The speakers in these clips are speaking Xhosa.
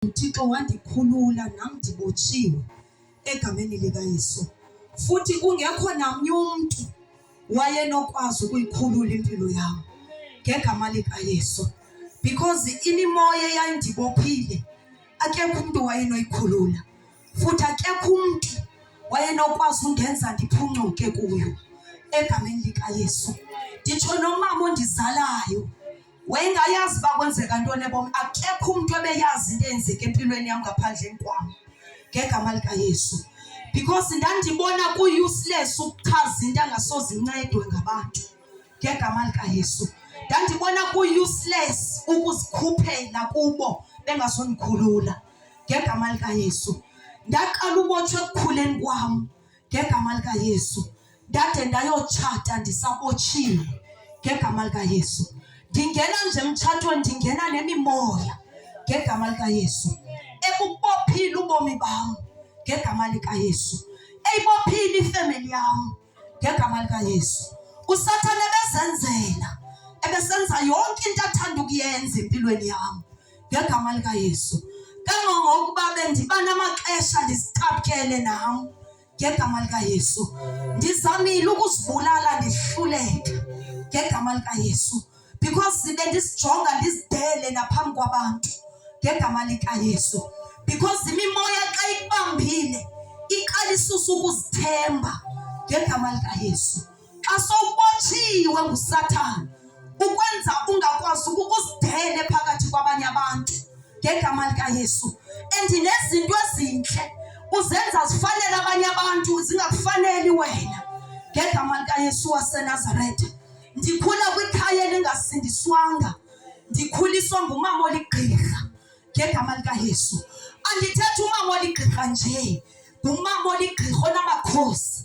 uThixo wandikhulula nam ndibotshiwe egameni likaYesu. Futhi kungekho namnye umntu wayenokwazi ukuyikhulula impilo yam ngegama likaYesu because imimoya eyayindibophile akekho umntu wayenoyikhulula futhi akekho umntu wayenokwazi undenza ndiphuncuke kuyo egameni likaYesu nditsho nomama ondizalayo wayengayazi uba kwenzeka ntoni ebom akekho umntu ebeyazi into eyenzeka empilweni yam ngaphandleni kwam ngegama likayesu because ndandibona ku-useless ukuchaza into angasoze incedwe ngabantu ngegama likayesu ndandibona ku-useless ukuzikhuphela kubo bengazondikhulula ngegama likayesu ndaqala ubotshwa ekukhuleni kwam ngegama likaYesu. Ndade ndayotshata ndisabotshile ngegama likaYesu. Ndingena nje emtshatweni ndingena nemimoya ngegama likaYesu. Ebubophile ubomi bam ngegama likaYesu. Eyibophile ifemeli yam ngegama likaYesu. USathane ebezenzela ebesenza yonke into athanda ukuyenza empilweni yam. ngegama likaYesu. Kangangokuba bendiba namaxesha ndizithaphele nam ngegama likaYesu. Ndizamile ukuzibulala ndihluleke ngegama likaYesu because zibe ndisijonga ndizidele naphambi kwabantu ngegama likaYesu because imimoya xa ikubambile iqalisa usukuzithemba ngegama likaYesu. xa sowubotshiwe ngusathana ukwenza ungakwazi ukuzidele phakathi kwabanye abantu ngegama likayesu and nezinto ezintle uzenza zifanele abanye abantu zingakufaneli wena ngegama likayesu wasenazaretha ndikhula kwikhaya elingasindiswanga ndikhuliswa ngumama oligqirha ngegama likayesu andithethi umama oligqirha nje ngumama oligqirha onamakhosi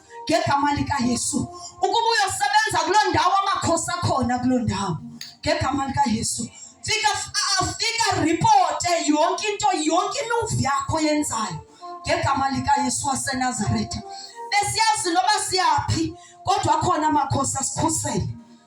ngegama likaYesu ukuba uyosebenza kuloo ndawo amakhosi akhona kuloo ndawo ngegama likaYesu fika afika ripote yonke into yonke imuvi yakho yenzayo ngegama likaYesu waseNazaretha besiyazi noba siyaphi kodwa akhona amakhosi asikhusele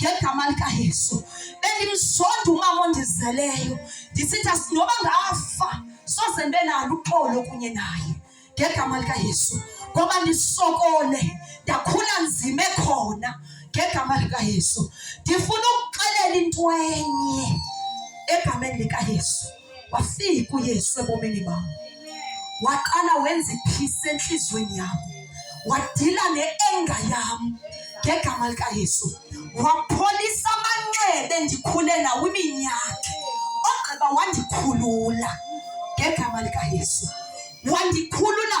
ngegama likayesu bendimsonda umama ondizeleyo ndisitha noba ngafa soze ndibe nalo uxolo kunye naye ngegama likayesu ngoba ndisokole ndakhula nzima ekhona ngegama likayesu ndifuna ukuxelela into enye egameni likayesu wafika uyesu ebomini bam waqala wenza iphisi entliziyweni yam wadila ne-enga yam ngegama likayesu wapholisa amanxebe ndikhule nawo iminyaka ogqiba wandikhulula ngegama likayesu wandikhulula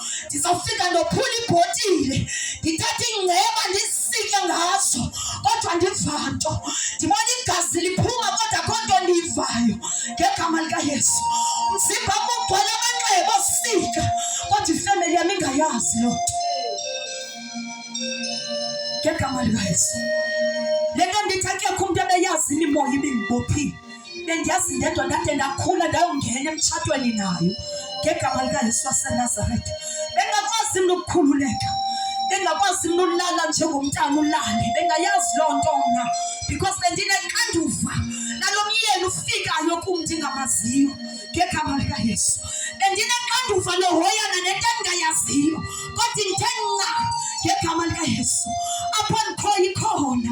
ndizawufika ndophula ibhotile ndithathe ingceba ndisike ngazo kodwa ndiva nto ndibona igazi liphuma kodwa kho nto ndiyivayo ngegama likayesu umzimba mugcwele amanxeba osika kodwa ifemeli yam ingayazi loo nto ngegama likayesu le nto ndithi akekho umntu ebeyazini imoya ibingibophile bendiyazi ndedwa ndade ndakhula ndayongena emtshatweni nayo ngegama likayesu wasenazaretha bengakwazi mntu ukukhululeka bengakwazi mntu ulala njengomntana ulale bengayazi loo nto mna because bendinexanduva nalo myeni ufikayo kum ndingamaziyo ngegama likayesu bendinexanduva lohoyana nento endingayaziyo kodwa ndithe nca ngegama likayesu apho ndikhoyo ikhona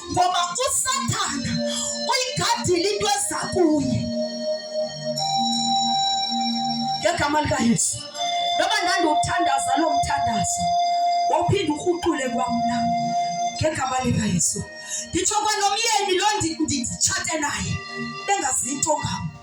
ngoba usathana uyigadile into eza kuye ngegama likayesu noba ndandiwuthandaza loo mthandazo wawuphinde urhuqule kwamna ngegama likayesu nditsho kwanomyeni lo nditshate naye bengazinto ngam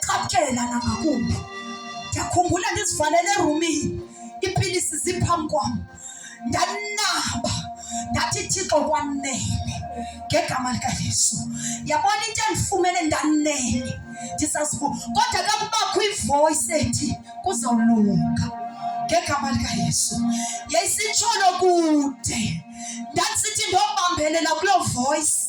Cacela nangakumbi. Ndiyakhumbula ndizivalele erumini, iipilisi ziphambi kwam. Ndanaba, ndathi Thixo kwanele ngegama likaYesu. Yabona into endifumene ndanele, ndisazivu. Kodwa kakubakho ivoyisi ethi kuzolunga ngegama likaYesu. Yayisitsholo kude, ndandisithi ndobambelela kuloo voyisi.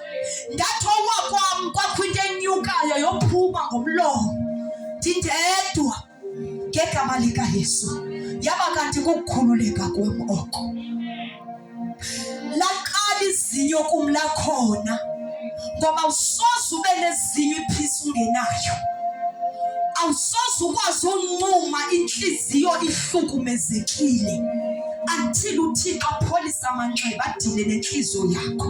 Ndathi owa kwam kwakho into enyukayo yophuma ngomlomo ndindedwa ngegama likaYesu, yaba kanti kukukhululeka kwam oko. Laqala izinyo kum lakhona ngoba usoze ube nezinye iphisi ungenayo awusoze ukwazi uncuma inhliziyo ihlukumezekile until uthixo apholise amanxeba adile nenhliziyo yakho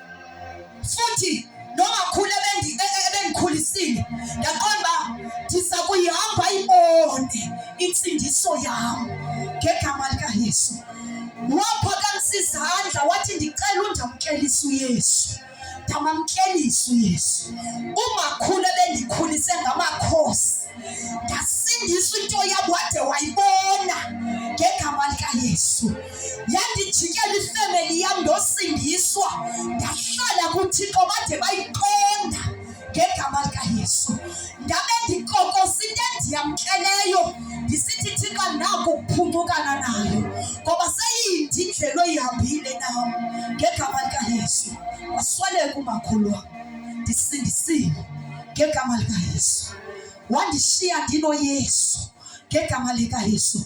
futhi nomakhulu ebendikhulisile ndaqonda uba ndiza kuyihamba ibone intsindiso yam ngegama likayesu waphakamisa izandla wathi ndicela undamkelisa uyesu ndamamkelisa uyesu umakhulu ebendikhulise ngamakhosi ndasindisa into yabo wade wayibona ngegama likayesu yandijikela ifemeli yam ndosindiswa ndahlala kuthixo bade bayiqonda ngegama likayesu ndabe ndikokosa into endiyamkeleyo ndisithi thixo naku ukuphunqukana nayo ngoba seyindi indlela oyihambile nam ngegama likayesu wasweleka umakhulu wam ndisindisile ngegama likayesu wandishiya ndinoyesu ngegama likayesu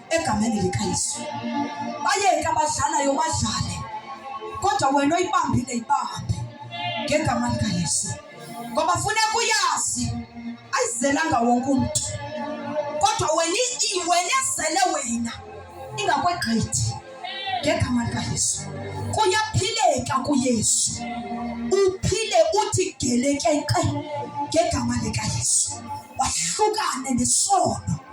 egameni likaYesu. Bayeke abadlalayo badlale, kodwa wena oyibambile ibambe ngegama likaYesu, ngoba funeka uyazi ayizelanga wonke umntu, kodwa wena wena ezele wena ingakwegqithi ngegama likaYesu. Kuyaphileka kuYesu, uphile uthi gelekeqe ngegama likaYesu, wahlukane nesono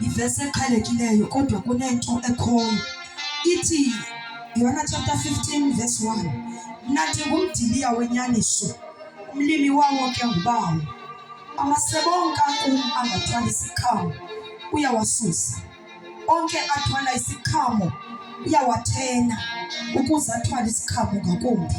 Yivesi eqhelekileyo kodwa kunento ekhoyo. Ithi Yohana chapter 15 verse 1. Nathi ngumdiliya wenyaniso. Umlimi wawo ke ngubawo. Amasebe onke akum angathwala isiqhamo uyawasusa. Onke athwala isiqhamo uyawathena ukuze athwale isiqhamo ngakumbi.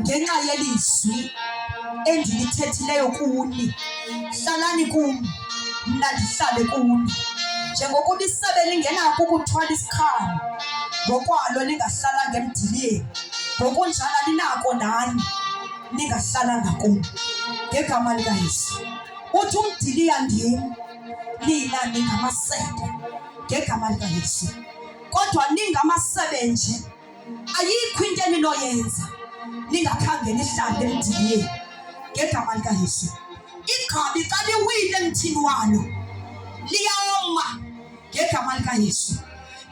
ngenxa yelizwi endilithethileyo kuni hlalani kum mna ndihlale kuni njengoko ulisebe lingenako ukuthwala isikhalo ngokwalo lingahlalanga emdiliyeni ngokunjalo linako nani lingahlalanga kum ngegama likayesu uthi umdiliya ndim nina ningamasebe ngegama likayesu kodwa ningamasebe nje ayikho into eninoyenza ningakhange nihlale emdiliyeni ngegama likayesu igqabi xa liwile emthini walo liyawoma ngegama likayesu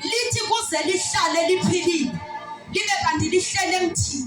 lithi kuze lihlale liphilile libe kanti lihlele emthini